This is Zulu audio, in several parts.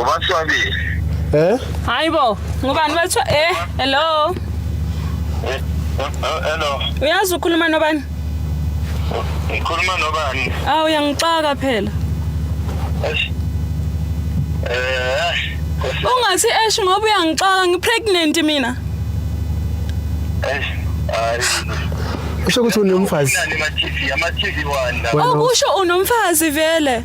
ubaswabile eh hayi bo ngubani bathiwa eh hello eh, eh, hello uyazi ukhuluma nobani ngikhuluma nobani awu uyangixaka phela eh ungathi esh ngoba uyangixaka ngipregnant mina eh hayi usho ukuthi unomfazi ama TV wanda okusho unomfazi vele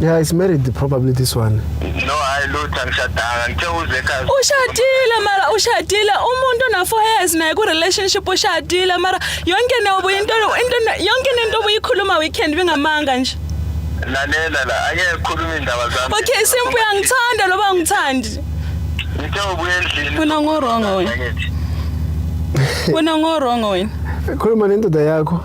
Yeah, it's married probably this one. No, hayi lutho angishadanga. Ngithe uze ekhaya. Ushadile mara ushadile umuntu ona 4 years naye ku relationship ushadile mara yonke nayo into into yonke into obuyikhuluma weekend bengamanga nje. Lalela la, ake khuluma indaba zami. Okay, simple uyangithanda loba ungithandi. Ngithe ubuye endlini. Wena ngorong wena. Wena ngorong wena. Khuluma nendoda yakho.